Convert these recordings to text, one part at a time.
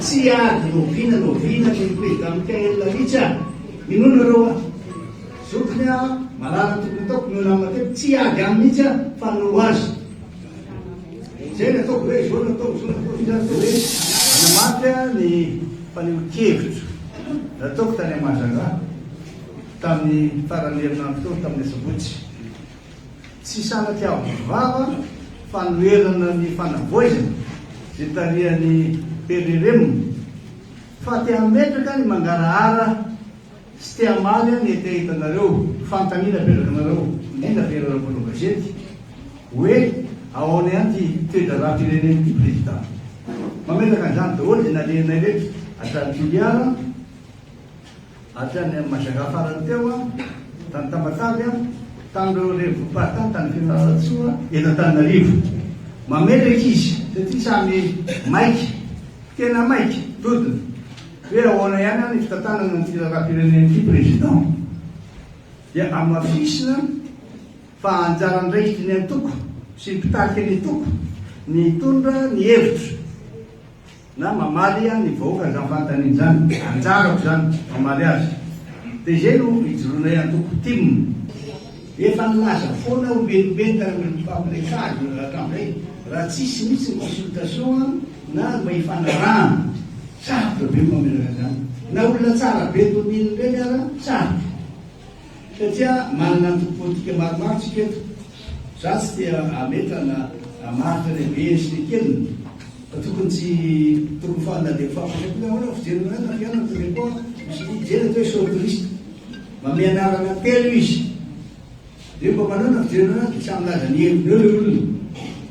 Tsia ady noviana noviana ny président Mickaël Lamitry a! Inoa nareo a! Zokiny a! Marary ny tokony ataoko noho nama teto tsy hiady aminy mihitsy aho fa hanoro azy! Izay no ataoko hoe izao no ataoko izao no ataoko izao dia hoe hanamafy aho ny fanehoan-kevitro nataoko tany Mahajanga tamin'ny faran'ny herinandro teo tamin'ny asabotsy. Tsy sanatria avo vava fanoherana ny fanavoizana izay tarihan'i PRRM fa te hametraka ny mangarahara sy te hamaly ny hetaheta nareo. Fanontaniana apetraka anareo indrindra fa ianareo mpanao gazety hoe aona ihany ity toedraharaha firenena ity Président. Mametraka an'izany daholo izay nalehanay rehetra hatramin'ny Toliara. Hatrany amin'i Majanga farany teo aho, tany Tamatave aho, tamin'ireo revo Pata tany Fianarantsoa, eto Antananarivo. Mametraka izy taty samy maika, tena maika, dodona, hoe ahoana ihany ary ny fitantanana an'ity raharaham-pirenena ity Président. Dia amafisina fa anjara andraikitry ny antoko sy ny mpitarika ny antoko ny hitondra ny hevitra. Na mamaly an ny vahoaka izany fanontaniana izany. Anjarako izany mamaly azy. Dia izay no ijoroanay antoko tim. Efa nilaza foana aho melomeloka ary mirepopapo ilay tsara dia milalaka amin'izay raha tsisy mihitsy ny consultation na ny mba hifanarahana. Sarotra be ny mamelaka an'izany. Na olona tsara be toa an'iny ireny ara, sarotra. Satria manana antoko politika maromaro tsika eto. Za tsy te hametra na hamaritra ilay be sy ilay kely fa tokony tsy tokony fa na dia mifampirefy na ahoana ny fijery anay na fihaonana na tele koa misy mijery atao hoe shortlist. Mamehy anarana telo izy. Dia mba manao na fijery anay dia samy milaza ny heviny eo ilay olona.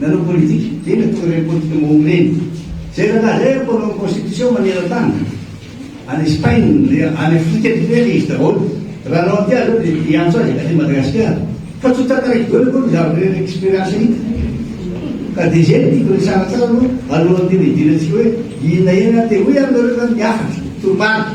Nanao politika ve ny mpitory politika mahomby ireny? Izay rahalahy izay ary mpanao ny constitution maneran-tany any Espagne, any Afrika aty ivelany dia izy daholo. Raha anao aty aleo dia hiantso azy aty Madagasikara. Fa tsy ho tantaraiko daholo aloha ny zavatra experience hita. Ka dia izay no tiako resahana tsara aloha alohan'ny hidirantsika hoe inona inona. Dia hoy ianareo izany ny hafatra, toromarika.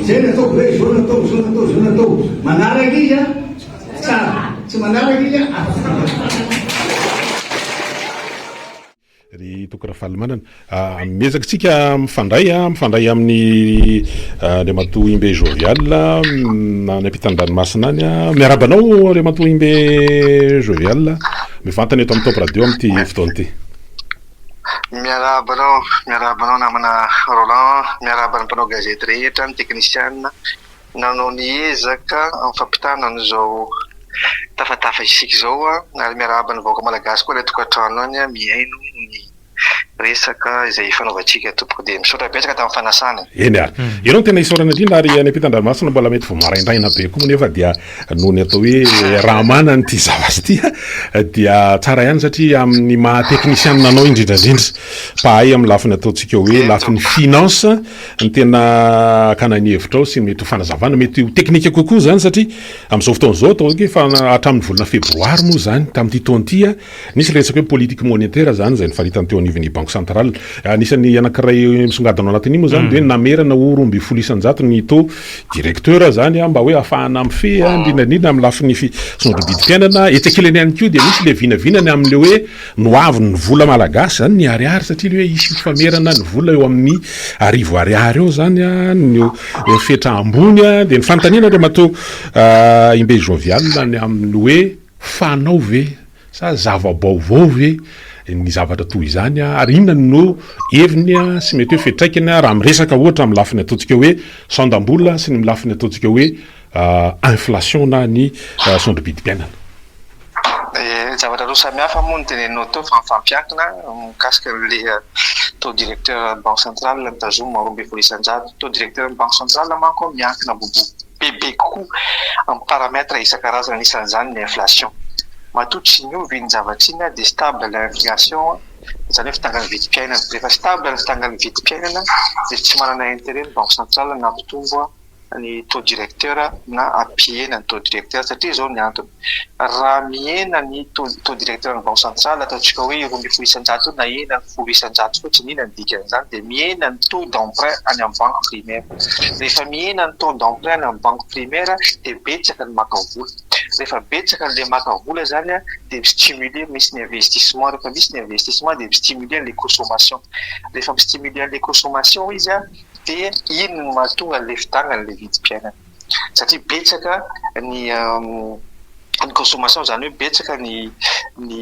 Izay no ataoko hoe izao no atao, izao no atao, izao no atao. Manaraka izy an, tsara. Tsy manaraka izy an, afaka. Ry Toky Rafalimanana, miezaka isika mifandray, mifandray amin'i Andriamatoa Imbe Jovial any ampitan-dranomasina any. Miarahaba anao Andriamatoa Imbe Jovial mivantana eto amin'ny Top Radio amin'ity fotoana ity. Miarahaba anao, miarahaba anao namana Roland, miarahaba ny mpanao gazety rehetra, ny teknisiana nanao ny ezaka amin'ny fampitana an'izao tafatafa isika izao ary miarahaba ny vahoaka malagasy koa any an-tokantrano any mihaino ny resaka izay ifanaovantsika tompoko dia misaotra betsaka tamin'ny fanasana e. Eny ary. Ianao no tena isaorana indrindra ary any am-pitan-dranomasina mbola mety vao maraindraina be koa moa nefa dia Noho ny atao hoe raha manana ity zavatra ity dia tsara ihany satria amin'ny maha teknisianina anao indrindra indrindra mpahay amin'ny lafiny ataontsika hoe lafiny finance ny tena hakana ny hevitrao sy ny mety ho fanazavana mety ho teknika kokoa izany satria amin'izao fotoana izao ataoko hoe fa hatramin'ny volana febroary moa izany tamin'ity taona ity Nisy ilay resaka hoe politique monétaire izany izay nifaritany teo anivon'ny Banque centrale. Anisan'ny anankiray misongadina ao anatin'iny moa izany dia ny namerana ho roa ambin'ny folo isan-jato ny taux directeur izany mba hoe hahafahana mifehy n'inona n'inona amin'ny lafiny fisondrobidim-piainana. Etsy ankilany ihany koa dia misy ilay vinavinana amin'ilay hoe nohavin'ny vola malagasy izany ny ariary satria ilay hoe hisy famerana ny vola eo amin'ny arivo ariary eo izany no fetra ambony. Dia ny fanontaniana Andriamatoa Imbe Jovial ny amin'ny hoe. Fanao ve sa zava-baovao ve ny zavatra toy izany ary inona no heviny sy mety hoe fiantraikany raha miresaka ohatra amin'ny lafiny ataontsika hoe sandam-bola sy ny lafiny ataontsika hoe inflation na ny sondrom-pidim-piainana? Ny zavatra roa samy hafa moa no teneninao teo fa mifampiankina mikasika an'ilay taux directeur banque centrale mitazoma roa ambin'ny folo isan-jato. Taux directeur ny banque centrale manko miankina bobo. Bebe kokoa amin'ny paramètres isan-karazany anisan'izany ny inflation. Matoa tsy niova iny zavatra iny dia stable l'inflation izany hoe fitangan'ny vidim-piainana. Rehefa stable ny fitangan'ny vidim-piainana dia tsy manana intérêt ny banque centrale na hampitombo ny taux directeur na hampihena ny taux directeur satria izao ny antony. raha mihena ny taux directeur ny banque centrale ataontsika hoe roa ambin'ny folo isan-jato eo nahena ny folo isan-jato fotsiny inona ny dikan'izany dia mihena ny taux d'emprunt any amin'ny banque primaire rehefa mihena ny taux d'emprunt any amin'ny banque primaire dia betsaka ny maka vola rehefa betsaka an'ilay maka vola izany an dia mi-stimuler misy ny investissement rehefa misy ny investissement dia mi-stimuler an'ilay consommation rehefa mi-stimuler an'ilay consommation izy an dia iny no mahatonga an'ilay fidàna an'ilay vidim-piainana satria betsaka ny ny consommation izany hoe betsaka ny ny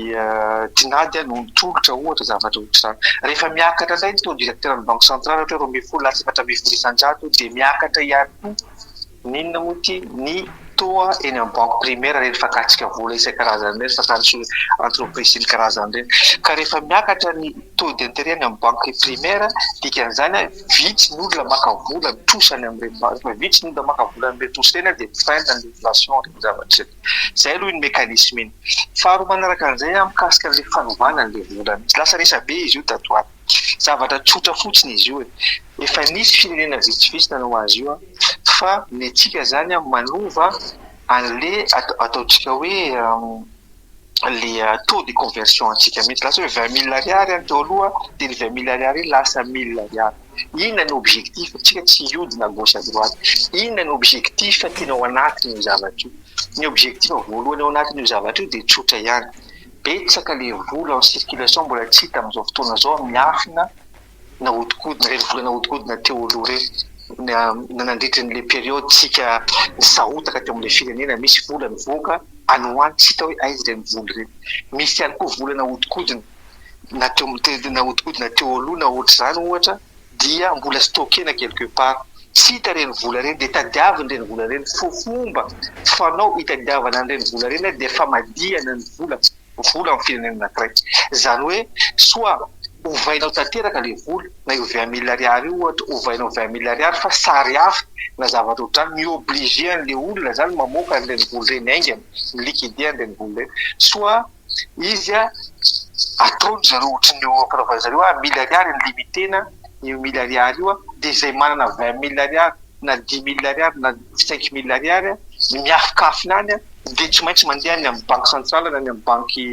tinady no mitolotra ohatra zavatra ohatra izany. Rehefa miakatra indray ny taux directeur ny banque centrale ohatra hoe roa ambin'ny folo lasa efatra ambin'ny folo isan-jato dia miakatra ihany koa ny inona moa ity ny taux eny amin'ny banque primaire ireny fakatsika vola isan-karazany ireny fakatso entreprise sy ny karazany ireny ka rehefa miakatra ny taux d'interet eny amin'ny banque primaire dikan'izany Vitsy ny olona maka vola mitrosa any amin'ireny base, fa vitsy ny olona maka vola any amin'ireny trosa ireny an, dia mi-freine ny relation entre ny zavatra izay. Izay aloha iny mécanisme iny. Faharoa manaraka an'izay an, mikasika an'ilay fanovana an'ilay vola mihitsy. Lasa resabe izy io tato ho ato. Zavatra tsotra fotsiny izy io e. Efa nisy firenena vitsivitsy nanao azy io an, fa ny antsika izany an, manova an'ilay ataontsika hoe. le taux de conversion antsika mihitsy lasa hoe vingt mille ariary any teo aloha dia ny vingt mille ariary iny lasa mille ariary inona no objectif tsika tsy hiodina à gauche à droite inona no objectif tena ao anatin'io zavatra io ny objectif voalohany ao anatin'io zavatra io dia tsotra ihany betsaka le vola en circulation mbola tsy hita amin'izao fotoana izao miafina nahodikodina, renivola nahodikodina teo aloha ireny, nandritra an'ilay période tsika nisahotaka teo amin'ilay firenena, misy vola nivoaka, any ho any tsy hita hoe aiza ireny vola ireny. Misy ihany koa vola nahodikodina, na teo amin'ny, nahodikodina teo aloha na ohatr'izany ohatra, dia mbola stockena quelque part. Tsy hita ireny vola ireny, dia tadiavina ireny vola ireny. Fomba fanao hitadiavana an'ireny vola ireny dia famadihana ny vola. ho vola amin'ny firenena anankiray. Izany hoe soit ovainao tanteraka ilay vola, na io vingt mille ariary io ohatra, ovainao vingt mille ariary fa sary hafa na zavatra ohatr'izany, mi-obliger an'ilay olona izany mamoaka an'ireny vola ireny haingana, mi-liquider an'ireny vola ireny. Soit izy atao ry zareo ohatry ny ampanaovina ry zareo hoe mille ariary ny limite-na io mille ariary io dia izay manana vingt mille ariary, na dimy mille ariary na cinq mille ariary ny miafokafona any dia tsy maintsy mandeha any amin'ny banky santraly na any amin'ny banky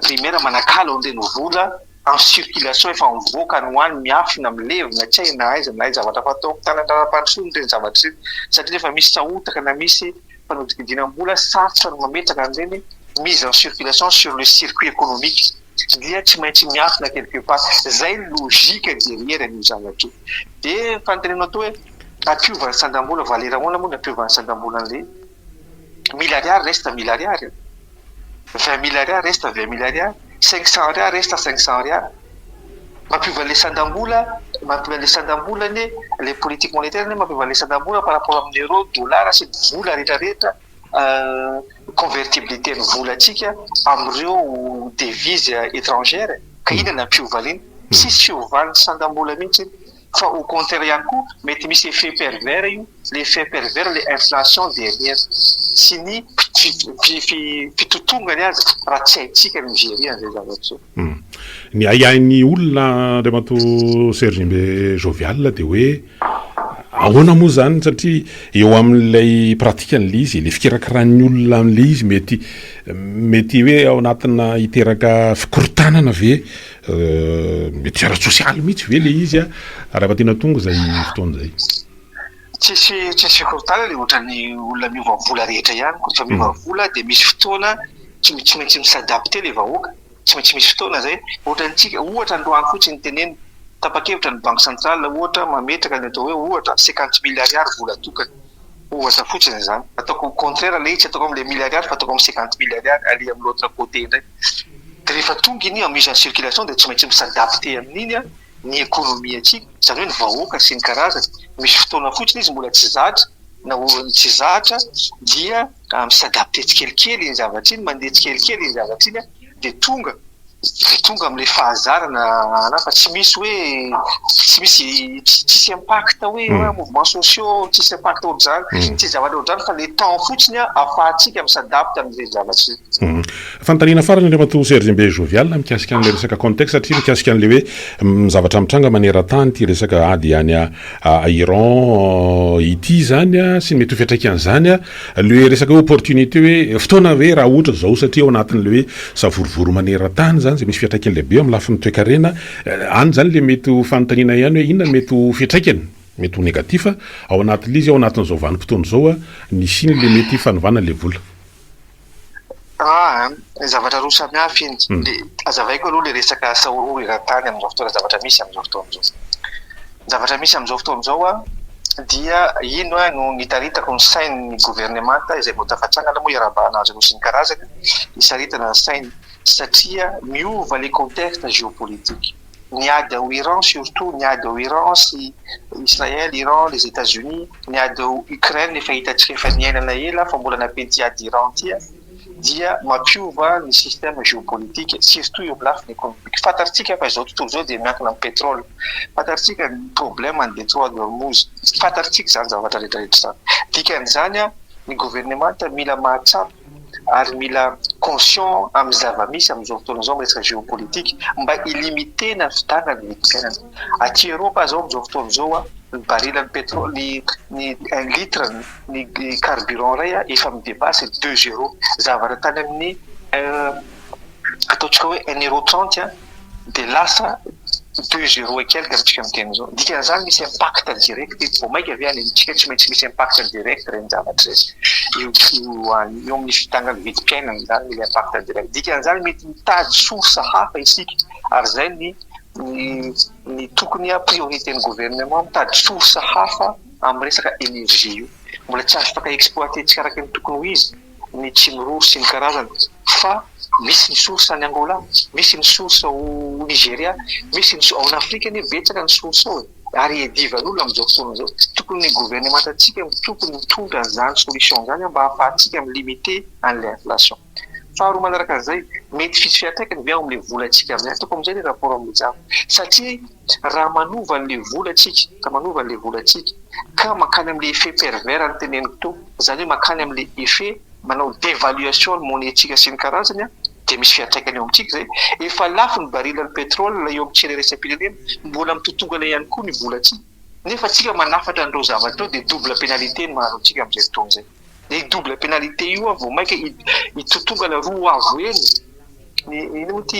primaire manakalo an'ireny vola en circulation efa mivoaka any ho any miafina milevina tsy hay na aiza na aiza zavatra fatao tanan'ny raharaham-pandrosoana ireny zavatra ireny satria efa misy sahotaka na misy Fanodinkodinana mbola sarotra ny mametraka an'ireny mise en circulation sur le circuit économique dia tsy maintsy miafina quelque part. Izay ny logique derrière an'io zavatra io. Dia ny fanontanianao koa hoe ampiovan'ny sandam-bola, valeur ahoana moa ny ampiovan'ny sandam-bola an'ilay mille ariary reste mille ariary? vingt mille ariary resta vingt mille ariary, cinq cent ariary resta cinq cent ariary, mampiova an'ilay sandam-bola, mampiova an'ilay sandam-bola anie, ilay politique monétaire anie mampiova an'ilay sandam-bola par rapport amin'ny euro, dollars sy ny vola rehetra rehetra, convertibilité-n'ny volantsika amin'ireo devises étrangères e! ka inona no hampiova an'iny? Tsisy fiovan'ny sandam-bola mihitsy iny. Fa au contraire ihany koa mety misy effet pervers io, le effet pervers le inflation derrière sy ny fitotongany aza raha tsy haintsika ny mi-gerer an'izay zavatra izay. Ny ahiahin'ny olona Andriamatoa Serge Mbe Jovial dia hoe ahoana moa izany satria eo amin'ilay pratique an'ilay izy e, le fikirakiràn'ny olona an'ilay izy mety mety hoe ao anatina hiteraka fikorontanana ve Mety ara-tsosialy mihitsy ve ilay izy raha efa tena tonga izay fotoana izay? Tsisy tsisy fikorontanana dia ohatran'ny olona miova vola rehetra ihany koa, rehefa miova vola dia misy fotoana tsy tsy maintsy mi-s'adapter ilay vahoaka, tsy maintsy misy fotoana izay, ohatra antsika, ohatra androany fotsiny no tenenina, tapa-kevitra ny banque centrale ohatra mametraka ny atao hoe ohatra cinquante mille ariary vola tokana, ohatra fotsiny izany, ataoko au contraire ilay izy, tsy ataoko amin'ilay mille ariary fa ataoko amin'ny cinquante mille ariary, aller amin'ny l'autre côté indray. dia rehefa tonga iny en mise en circulation dia tsy maintsy mi s'adapter amin'iny ny ekonomiantsika, izany hoe ny vahoaka sy ny karazany, misy fotoana fotsiny izy mbola tsy zatra, na oriny tsy zatra dia mi s'adapter tsikelikely iny zavatra iny, mandeha tsikelikely iny zavatra iny dia tonga, dia tonga amin'ilay fahazarana anah fa tsy misy hoe, tsy misy, tsisy impact hoe mouvement sociaux, tsisy impact ohatr'izany, tsisy zavatra ohatr'izany fa le temps fotsiny ahafahantsika mi s'adapter amin'izay zavatra izay. Fanontaniana farany ny Ramatoa Serge Mbe Jovial mikasika an'ilay resaka contexte satria mikasika an'ilay hoe ny zavatra mitranga maneran-tany ity resaka ady any Iran ity izany sy ny mety ho fiantraikan'izany. Ilay resaka hoe opportunité hoe fotoana ve raha ohatra izao satria ao anatin'ilay hoe savorovoro maneran-tany izany izay misy fiantraikany lehibe eo amin'ny lafiny toekarena. Any izany ilay mety ho fanontaniana ihany hoe inona mety ho fiantraikany, mety ho negatif, ao anatin'ilay izy ao anatin'izao vanim-potoana izao ny hisian'ilay mety fanovana ilay vola. An, zavatra roa samy hafa iny. Dia hazavaiko aloha ilay resaka asa horohoro eran-tany amin'izao fotoana, zavatra misy amin'izao fotoana izao. Ny zavatra misy amin'izao fotoana izao dia ino no nitaritako ny sain'ny governemanta izay vao tafatsangana moa iarahabana azy ireo sy ny karazany, hisaritana ny sainy satria miova ilay contexte géopolitique. ny ady ao Iran surtout ny ady ao Iran sy Israël, Iran, les Etats-Unis, ny ady ao Ukraine efa hitantsika efa niainana ela fa mbola nampiany ity ady Iran ity a, dia mampiova ny système géopolitique surtout eo am lafiny économique, fantarintsika fa izao tontolo izao dia miankina am pétrole, fantarintsika ny problème ny detroit de hormouz, fantarintsika izany zavatra rehetra rehetra izany, dikan'izany a ny gouvernemanta mila mahatsapa. ary mila conscient amin'ny zava-misy amin'izao fotoana izao amin'ny resaka géopolitique mba hi-limiter ny havitanan'ny vidim-piainana. Aty Eropa izao amin'izao fotoana izao ny baril-n'ny pétrole, ny un litre ny carburant iray efa mi-depasser ny deux euros, zavatra tany amin'ny un, ataontsika hoe un euro trente an! dia lasa deux zero et quelques amintsika amin'ny teny izao. Ny dikan'izany misy impact direct eto, vao mainka ve any amintsika tsy maintsy misy impact direct ireny zavatra ireny. Eo eo amin'ny fitangan'ny vidim-piainana izany ilay impact direct. Dikan'izany mety mitady source hafa isika ary izay ny ny tokony a priorité-n'ny gouvernement mitady source hafa amin'ny resaka énergie io. Mbola tsy afaka exploiter-ntsika araka ny tokony ho izy. ny Kimroo sy ny karazany fa misy ny source any Angola, misy ny source ao Nigeria, misy ny ao Afrika anie betsaka ny source ao e! ary iadivan'olona amin'izao fotoana izao, tokony ny governemantantsika no tokony mitondra an'izany solution izany mba hahafahantsika mi-limiter an'ilay inflation. Faharoa manaraka an'izay, mety hisy fiantraikany ve ao amin'ilay volantsika amin'izay, ataoko amin'izay ilay rapport amin'ilay jamba satria, raha manova an'ilay vola tsika, raha manova an'ilay vola tsika ka mankany amin'ilay effet pervers noteneniko teo, izany hoe mankany amin'ilay effet manao devaluation ny monnaie tsika sy ny karazany dia misy fiantraikany eo amintsika izay, efa lafo ny baril ny petrol eo amin'ny tsena iraisam-pirenena, mbola mitotongana ihany koa ny vola tsika, nefa tsika manafatra an'ireo zavatra ireo dia double penalite no mahazo antsika amin'izay fotoana izay. Ny double pénalité io an vao maika hitotongana roa avo heny ny inona moa ity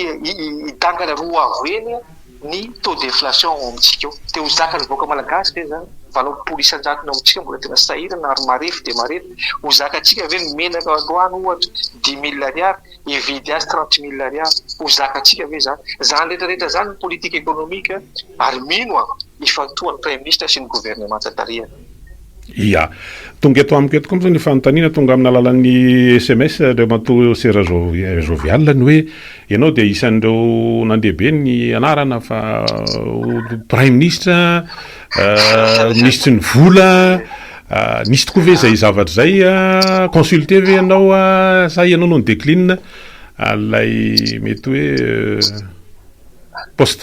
hidangana roa avo heny ny taux d'inflation ao amintsika ao. Dia ho zakan'ny vahoaka malagasy ve izany? Valom-polo isan-jatony ao amintsika mbola tena sahirana ary marefo dia marefo. Ho zakantsika ve ny menaka androany ohatra dix mille ariary, hividy azy trente mille ariary? Ho zakantsika ve izany? Izany rehetra rehetra izany ny politique économique ary mino aho hifantohan'ny Praiminisitra sy ny governemanta tarihany. Ia. Tonga eto amiko eto koa moa zany io fanontaniana tonga amin'ny alalan'ny sms Andriamatoa Sera Jovial ny hoe ianao dia isan'ireo nandeha be ny anarana fa ho Praiminisitra, Minisitry ny Vola, nisy tokoa ve izay zavatra izay? Consulté ve ianao sa ianao no ni-decline ilay mety hoe. post.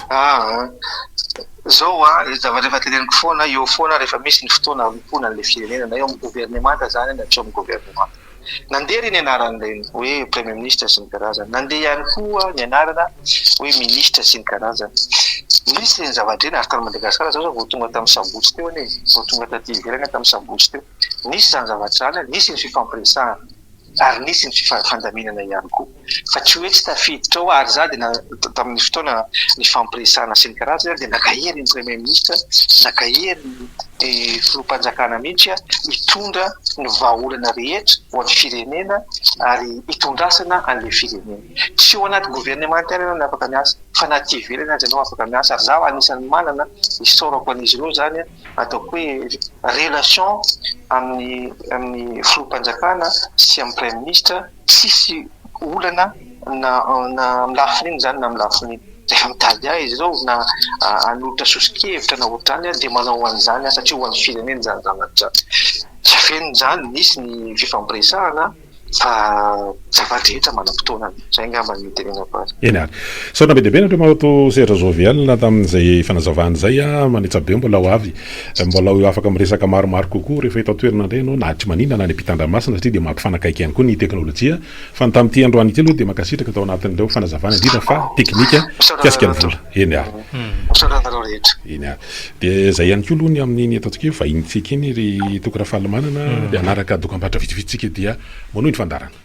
Zao hoa le zavatra efa teneniko foana eo foana rehefa misy ny fotoana hanompoana anle firenena na eo am governemanta zany na tsy eo am governemanta nandeha reny anaranle hoe premier ministre sy ny karazany nandeha ihany koa ny anarana hoe ministre sy ny karazany nisy reny zavatra reny ary tany madagasikara zao zao vao tonga tam sabotsy teo anie vao tonga taty ivelany tam sabotsy teo nisy zany zavatra zany nisy ny fifampiresahana ary nisy ny fifandaminana ihany koa fa tsy hoe tsy tafiditra ao ary za dia tamin'ny fotoana nifampiresahana sy ny karazany ary dia naka hery ny premier ministre naka hery ny filoham-panjakana mihitsy a hitondra ny vahaolana rehetra ho an'ny firenena ary hitondrasana an'ilay firenena tsy eo anaty governemanta ihany ianao no afaka miasa fa na aty ivelany aza ianao afaka miasa ary zaho anisan'ny manana isaorako an'izy ireo izany a ataoko hoe relation amin'ny amin'ny filoham-panjakana sy amin'ny praiminisitra, tsisy olana na na amin'ny lafiny inona izany na amin'ny lafiny rehefa mitady ahy izy ireo na hanolotra soso-kevitra na ohatr'izany aho dia manao an'izany aho satria ho an'ny firenena izany zavatra izany, tsy afenina izany, nisy ny fifampiresahana. Fa zafady rehetra manam-potoanany. Zay angamba no tenenako azy. Eny ary. Misaotra be dia be anareo maoto sehatra Jovial tamin'izay fanazavana izay. Manetsa be mbola ho avy. Mbola ho eo afaka miresaka maromaro kokoa rehefa eto an-toerana indray ianao na aty Manina na any am-pitandranomasina satria dia mampifanakaiky ihany koa ny teknolojia. Fa ny tamin'ity androany ity aloha dia mankasitraka tao anatin'ireo fanazavana indrindra fa teknika mikasika ny vola. Eny ary. Misaotra anareo rehetra. Eny ary. Dia izay ihany koa aloha ny amin'iny ataontsika hoe vahinintsika iny ry Toky Rafalimanana dia hanaraka dokam-barotra vitsivitsy tsika dia manohy ny fandaharana.